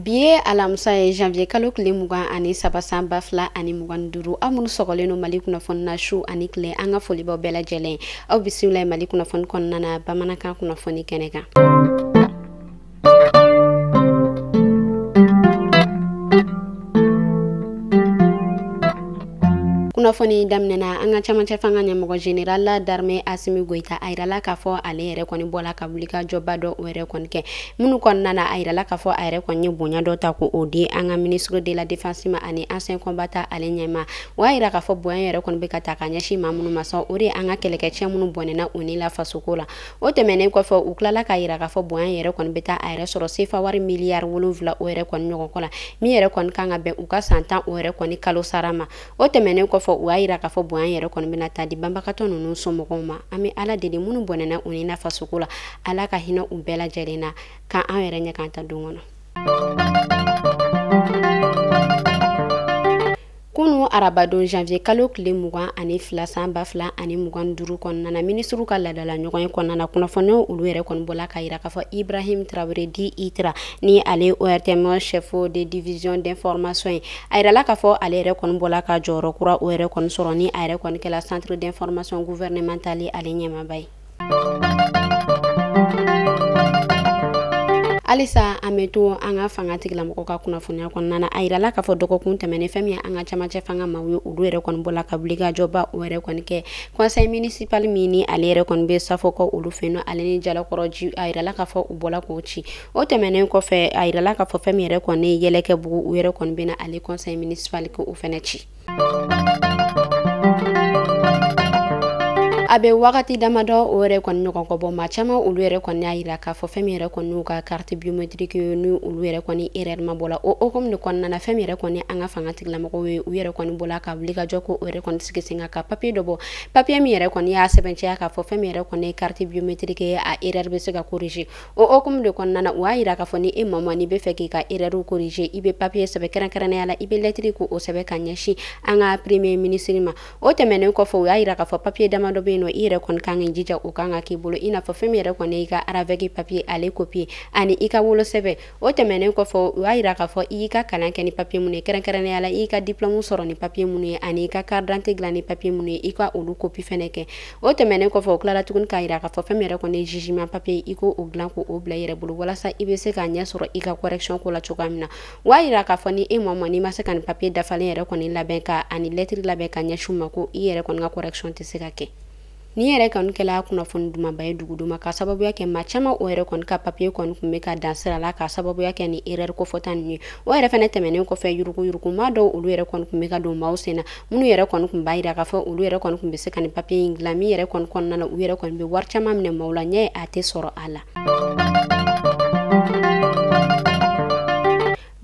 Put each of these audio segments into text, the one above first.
bi ye alamisa ye janvier kalo tile mugan ani saba san ba fila ani mugan duuru aw minnu sɔgɔlen don mali kunnafoni na su ani tile an ka foli b'aw bɛɛ lajɛlen aw bisimila mali kunnafoni kɔnɔna na bamanankan kunnafoni kɛnɛ kan kunnafoni daminɛna an ka camancɛ fanga ɲɛmɔgɔ général d'armée asimi goyita a yirala k'a fɔ ale yɛrɛ kɔni bɔla ka wuli ka jɔba dɔ o yɛrɛ kɔni kɛ minnu kɔnɔna na a yirala k'a fɔ a yɛrɛ kɔni ye bonya dɔ ta ko o di an ka ministre de la défense ma ani ancien combattant ale ɲɛma o y'a yira k'a fɔ bonya yɛrɛ kɔni bɛ ka taa ka ɲɛsin maa minnu ma sa o de ye an ka kɛlɛkɛcɛ minnu bɔnɛna u ni la fasoko la o tɛmɛnen kɔfɛ u tilala k'a yira k'a fɔ bonya yɛrɛ kɔni bɛ taa a yɛrɛ sɔrɔ sefa wari miliyari wolonwula o yɛrɛ kɔni ɲɔgɔn kɔ la min yɛrɛ kɔni kan ka bɛn u ka san tan o yɛrɛ kɔni kalo sara ma o tɛmɛnen kɔfɛ u y'a yira k'a fɔ bonya yɛrɛ kɔni bɛna taa di banbagatɔ ninnu somɔgɔw ma an bɛ ala deli minnu bɔnɛna u ni na fasoko la ala ka hinɛ u bɛɛ lajɛlen na k'an an yɛrɛ ɲɛ k'an ta don kɔnɔ Kunu arabadon janvier kalo tile mugan ani fila san ba fila ani mugan duuru kɔnɔna na minisiriw ka ladala ɲɔgɔn ye kɔnɔna na kunnafoniw olu yɛrɛ kɔni bɔla k'a yira k'a fɔ ibrahim tarawele dit itra ni ale ortm chef de division d'information ye a yirala k'a fɔ ale yɛrɛ kɔni bɔla ka jɔyɔrɔ kura o yɛrɛ kɔni sɔrɔ ni a yɛrɛ kɔni kɛla centre d'information gouvernementale ale ɲɛmaba ye halisa an bɛ to an ka fanga tigilamɔgɔw ka kunnafoniya kɔnɔna na a yirala k'a fɔ dɔgɔkun tɛmɛnen fɛn min ye an ka camancɛ fanga maaw ye olu yɛrɛ kɔni bɔla ka wuli ka jɔba o yɛrɛ kɔni kɛ conseil municipal min ni ale yɛrɛ kɔni bɛ safo kɔ olu fɛ yen nɔ ale ni jalakɔrɔji a yirala k'a fɔ u bɔla k'o ci o tɛmɛnen kɔfɛ a yirala k'a fɔ fɛn min yɛrɛ kɔni yɛlɛkɛbugu u yɛrɛ kɔni bɛna ale conseil municipal ko o fɛnɛ ci a bɛ wagati damadɔ o yɛrɛ kɔni ɲɔgɔn kɔ bɔ maa caman olu yɛrɛ kɔni y'a yira k'a fɔ fɛn min yɛrɛ kɔni y'u ka carte biométrique ye ni olu yɛrɛ kɔni erreur ma bɔ la o hokumu de kɔnɔna na fɛn min yɛrɛ kɔni an ka fanga tigilamɔgɔw ye u yɛrɛ kɔni bɔla ka wuli ka jɔ ko o yɛrɛ kɔni sigi sen kan ka papier dɔ bɔ papier min yɛrɛ kɔni y'a sɛbɛnciya k'a fɔ fɛn min yɛrɛ kɔni ye carte biométrique ye a erreur bɛ se ka corriger o hokumu de kɔnɔna na u y'a yira k'a fɔ ni e maa n'i b'a fɛ k'i ka erɛriw korije i bɛ papiye sɛbɛn kɛrɛnkɛrɛnnenya la i bɛ lɛtiri ko o sɛbɛn ka ɲɛsin an ka premier minisiri ma o tɛmɛnen kɔfɛ u y'a yira k'a fɔ papiye damadɔ bɛ yen nɔ i yɛrɛ kɔni kan k'i jija o kan ka k'i bolo i n'a fɔ fɛn min yɛrɛ kɔni y'i ka ravɛki papiye ale kopiye ani i ka wolosɛbɛn o tɛmɛnen kɔfɛ u y'a yira k'a fɔ i y'i ka kalan kɛ ni papiye minnu ye kɛrɛnkɛrɛnnenya la i y'i ka diplɔmu sɔrɔ ni papiye minnu ye ani i ka karidante dilan ni papiye minnu ye i ka olu kopi fɛnɛ kɛ o tɛmɛnen kɔfɛ o tilara tuguni k'a yira k'a fɔ fɛn min yɛrɛ kɔni ye jugement papier ye ko o dilan ko o bila i yɛrɛ bolo walasa i bɛ se k'a ɲɛ sɔrɔ i ka correction ko la cogoya min na u y'a yira k'a fɔ ni e maa ma n'i ma se ka nin papier dafalen yɛrɛ kɔni labɛn ka ani lɛtiri labɛn ka ɲɛsin u ma ko i yɛrɛ kɔni ka correction tɛ se ka kɛ nin yɛrɛ kɔni kɛla kunnafoni dumanba ye dugudenw ma ka sababuya kɛ maa caman o yɛrɛ kɔni ka papiye kɔni kun bɛ ka dan sira la ka sababuya kɛ ni erɛri kofɔta ninnu ye o yɛrɛ fɛnɛ tɛmɛnen kɔfɛ yuruguyurugu maa dɔw olu yɛrɛ kɔni kun bɛ ka don maaw sen na minnu yɛrɛ kɔni kun b'a yira k'a fɔ olu yɛrɛ kɔni kun bɛ se ka nin papiye in dilan min yɛrɛ kɔni kɔnɔna na u yɛrɛ kɔni bɛ wari caman minɛ maaw la ɲɛ a tɛ sɔrɔ a la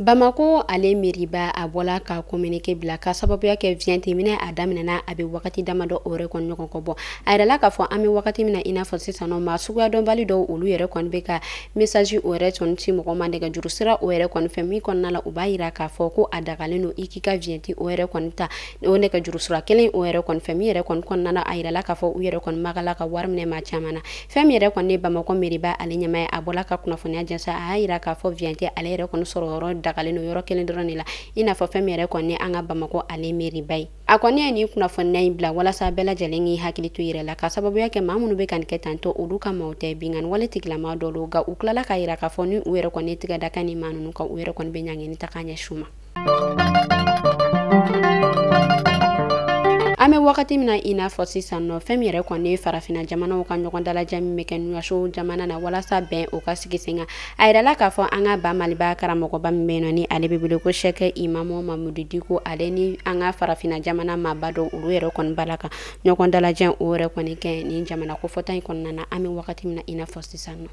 bamako ale meriba a bɔla ka kominike bila ka sababuya kɛ viyɛnti minɛ a daminɛna a bɛ wagati damadɔ o yɛrɛ kɔni ɲɔgɔn kɔ bɔ a yirala k'a fɔ an bɛ wagati min na i n'a fɔ sisan nɔ maa suguya dɔnbali dɔw olu yɛrɛ kɔni bɛ ka mesazi o yɛrɛ kɔni ci mɔgɔ ma nɛgɛjuru sira o yɛrɛ kɔni fɛ min kɔnɔna la u b'a yira k'a fɔ ko a dagalen don i k'i ka viyɛnti o yɛrɛ kɔni ta o nɛgɛjuru sira kelen o yɛrɛ kɔni fɛ min yɛrɛ kɔni kɔnɔna la a yirala k'a fɔ u yɛrɛ kɔni magala ka wari minɛ maa caman na fɛn min yɛrɛ kɔni ye bamakɔ meriba ale ɲɛmaa ye a bɔla ka kunnafoniya jɛnsa a y'a yira k'a fɔ viyɛnti ale yɛrɛ kɔni sɔrɔ yɔrɔ dagalen don yɔrɔ kelen dɔrɔn de la i n'a fɔ fɛn min yɛrɛ kɔni an ka bamakɔ ale meriba ye a kɔni ye nin kunnafoniya in bila walasa bɛɛ lajɛlen k'i hakili to yɛrɛ la ka sababuya kɛ maa minnu bɛ ka nin kɛ tan ko olu ka maaw tɛ binkanni wale tigilama dɔ don nka u tilala k'a yira k'a fɔ ni u yɛrɛ kɔni tigɛ da ka nin maa ninnu kan u yɛrɛ kɔni bɛ ɲangini ta k'a ɲɛsin u ma an bɛ wagati min na i n'a fɔ sisan nɔ fɛn min yɛrɛ kɔni ye farafinna jamanaw ka ɲɔgɔn dalajɛ min bɛ kɛ nouakchott jamana na walasa bɛn o ka sigi sen kan A yirala k'a fɔ an ka ba maliba karamɔgɔba min bɛ yen nɔ ni ale bɛ wele ko sɛkɛ imamu mamudu diko ale ni an ka farafinna jamana maaba dɔw olu yɛrɛ kɔni bala ka ɲɔgɔn dalajɛ o yɛrɛ kɔni kɛ nin jamana kofɔta in kɔnɔna na an bɛ wagati min na i n'a fɔ sisan nɔ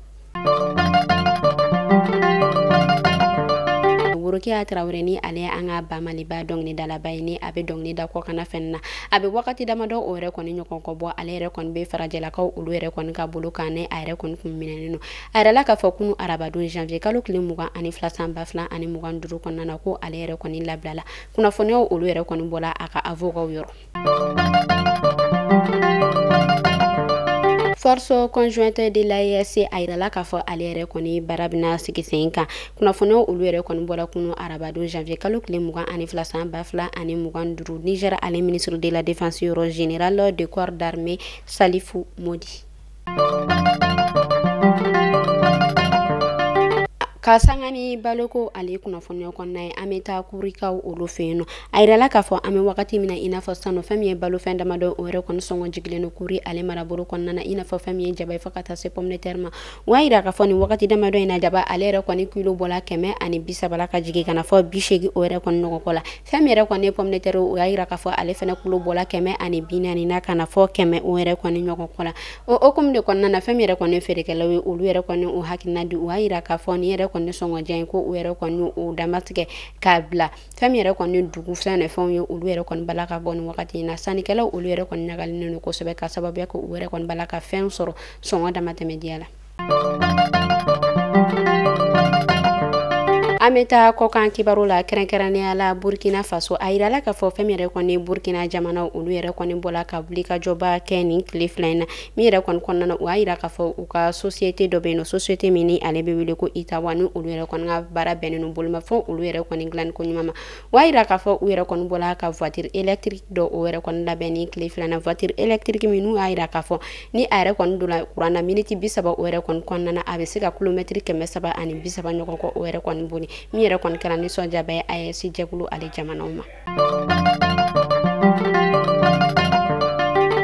worokiya traoré ni ale an ka ba maliba dɔnkilidalaba ye ni a bɛ dɔnkili da kɔkanna fɛn na a bɛ wagati damadɔ o yɛrɛ kɔni ɲɔgɔn kɔ bɔ ale yɛrɛ kɔni bɛ farajɛlakaw olu yɛrɛ kɔni ka bolo kan ni a yɛrɛ kɔni kun minɛnen don A yirala k'a fɔ kunun arabadon janvier kalo tile mugan ani fila san ba fila ani mugan duuru kɔnɔna na ko ale yɛrɛ kɔni labilala kunnafoniyaw olu yɛrɛ kɔni bɔla a ka avoka yɔrɔ force conjointe de l'AES a yirala k'a fɔ ale yɛrɛ kɔni baara bɛna sigi sen kan kunnafoniyaw olu yɛrɛ kɔni bɔla kunu arabadon janvier kalo tile mugan ani fila san ba fila ani mugan duuru Niger ale ministre de la défense yɔrɔ général de corps d'armée Salifu Modi ka sanga ni baloko ale kunnafoniya kɔnɔna ye an bɛ taa kurikaw olu fɛ yen nɔ a yirala k'a fɔ an bɛ wagati min na i n'a fɔ sisan nɔ fɛn min ye balofɛn damadɔ o yɛrɛ kɔni sɔngɔ jigilen don kuri ale marabolo kɔnɔna na i n'a fɔ fɛn min ye jaba ye fo ka taa se pomme de terre ma u y'a yira k'a fɔ nin wagati damadɔ in na jaba ale yɛrɛ kɔni kilo bɔla kɛmɛ ani bi saba la ka jigin ka na fo bi seegin o yɛrɛ kɔni ɲɔgɔn kɔ la fɛn min yɛrɛ kɔni ye pomme de terre o y'a yira k'a fɔ ale fɛnɛ kilo bɔla kɛmɛ ani bi naani na ka na fɔ kɛmɛ o yɛrɛ kɔni ɲɔgɔn kɔ la o hokumu de kɔnɔna na fɛn min yɛrɛ kɔni feerekɛlaw ye olu yɛrɛ kɔni o hakilina di o y'a yira k'a fɔ ni yɛrɛ kɔni sɔngɔjan ye ko o yɛrɛ kɔni o damatigɛ k'a bila fɛn min yɛrɛ kɔni dugu fɛn ne fɛnw ye olu yɛrɛ kɔni b'a la ka bɔ ni wagati in na sannikɛlaw olu yɛrɛ kɔni ɲagalinen don kosɛbɛ ka sababuya kɛ u yɛrɛ kɔni b'a la ka fɛn sɔrɔ sɔngɔ damatɛmɛdiya la an bɛ taa kɔkan kibaru la kɛrɛnkɛrɛnnenya la burkina faso a yirala k'a fɔ fɛn min yɛrɛ kɔni burkina jamanaw olu yɛrɛ kɔni bɔla ka wulikajɔba kɛ nin tile fila in na min yɛrɛ kɔni kɔnɔna na o y'a yira k'a fɔ u ka sosiyete dɔ bɛ yen nɔ sosiyete min ni ale bɛ wele ko itawa ni olu yɛrɛ kɔni ka baara bɛnnen don bolimafɛn olu yɛrɛ kɔni dilanni ko ɲuman ma O y'a yira k'a fɔ u yɛrɛ kɔni bɔla ka voiture électrique dɔ o yɛrɛ kɔni labɛn ni tile fila in na voiture électrique min n'u y'a yira k'a fɔ ni a yɛrɛ kɔni donna kuran na miniti bi saba o yɛrɛ kɔni kɔnɔna na a bɛ se ka kilomɛtiri kɛmɛ saba ani bi saba ɲɔgɔn kɔ o yɛrɛ kɔni boli min yɛrɛ kɔni kɛla nisɔndiyaba ye AES jɛkulu ale jamanaw ma.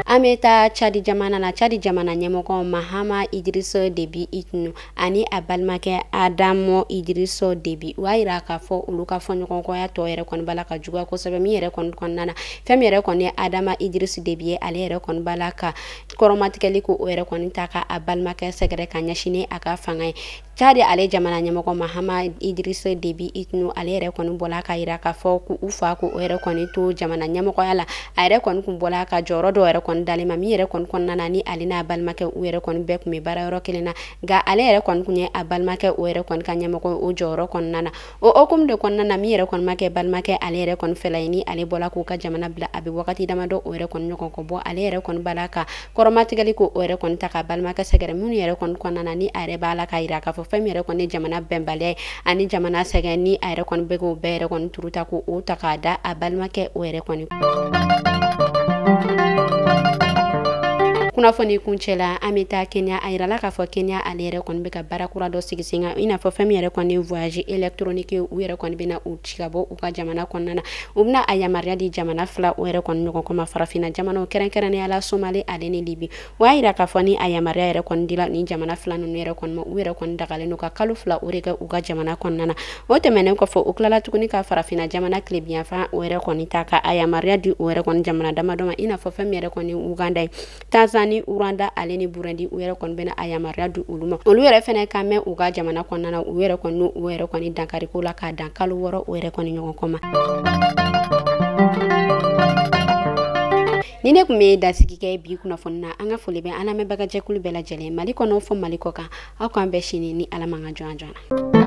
An bɛ taa Cadi jamana na Cadi jamana ɲɛmɔgɔ Mahama Idiriss Debi Itno ani a balimakɛ adama idirisi debi o y'a yira k'a fɔ olu ka fɔɲɔgɔnkɔya tɔ yɛrɛ kɔni b'a la ka juguya kosɛbɛ min yɛrɛ kɔni kɔnɔna na fɛn min yɛrɛ kɔni ye adama idirisi debi ye ale yɛrɛ kɔni b'a la ka kɔrɔmatigɛli ko o yɛrɛ kɔni ta ka a balimakɛ sɛgɛrɛ ka ɲɛsini a ka fanga ye cadi ale jamana ɲɛmɔgɔ mahama idirisi debi itno ale yɛrɛ kɔni bɔla k'a yira k'a fɔ k'u fa ko o yɛrɛ kɔni to jamana ɲɛmɔgɔya la a yɛrɛ kɔni kun bɔla ka jɔyɔrɔ dɔ yɛrɛ kɔni d'ale ma min yɛrɛ kɔni kɔnɔna na ni ale n'a balimakɛ u yɛrɛ kɔni bɛɛ kun bɛ baara yɔrɔ kelen na nka ale yɛrɛ kɔni kun ye a balimakɛ o yɛrɛ kɔni ka ɲɛmɔgɔ o jɔyɔrɔ kɔnɔna na o hukumu de kɔnɔna na min yɛrɛ kɔni ma kɛ balimakɛ ale yɛrɛ kɔni fɛla ye ni ale bɔla k'u ka jamana bila a bɛ wagati damadɔ o yɛrɛ kɔni ɲɔgɔn kɔ bɔ ale yɛrɛ kɔni b'a la ka kɔrɔmatigɛli ko o yɛrɛ kɔni ta ka balimakɛ sɛgɛrɛ minnu yɛrɛ kɔni kɔnɔna na ni a yɛrɛ b'a la k'a yira k'a fɔ fɛn min yɛrɛ kɔni ye jamana bɛnbaliya ye ani jamana sɛgɛn ni a yɛrɛ kɔni bɛ k'o bɛɛ yɛrɛ kɔni turu ta ko o ta k'a da a balimakɛ o yɛrɛ kɔni kunnafoni kuncɛ la an bɛ taa kenya a yirala k'a fɔ kenya ale yɛrɛ kɔni bɛ ka baara kura dɔ sigi sen kan i n'a fɔ fɛn min yɛrɛ kɔni voyage électronique u yɛrɛ kɔni bɛna u ci ka bɔ u ka jamana kɔnɔna na u bɛna a yamaruya di jamana fila o yɛrɛ kɔni ɲɔgɔn kɔma farafina jamanaw kɛrɛnkɛrɛnnenya la somali ale ni libi o y'a yira k'a fɔ ni a yamaruya yɛrɛ kɔni dila ni jamana fila ninnu yɛrɛ kɔni ma u yɛrɛ kɔni dagalen don ka kalo fila o de kɛ u ka jamana kɔnɔna na o tɛmɛnen kɔfɛ u tilala tuguni ka farafina jamana tilebinyanfan o yɛrɛ kɔni ta ka a yamaruya di o yɛrɛ kɔni jamana damadɔ ma i n'a fɔ fɛn min yɛrɛ kɔni uganda ye Tanzanie, Rwanda ale ni Burundi u yɛrɛ kɔni bɛna a yamaruya di olu ma olu yɛrɛ fɛnɛ ka mɛn u ka jamana kɔnɔna na u yɛrɛ kɔni u yɛrɛ kɔni dankariko la k'a dan kalo wɔɔrɔ o yɛrɛ kɔni ɲɔgɔn kɔ ma nin ne kun bɛ dansigi kɛ bi kunnafoni na an ka foli bɛ an lamɛnbagajɛkulu bɛɛ lajɛlen mali kɔnɔ fɔ mali kɔkan aw k'an bɛn sini ni ala man ka jɔn jɔn na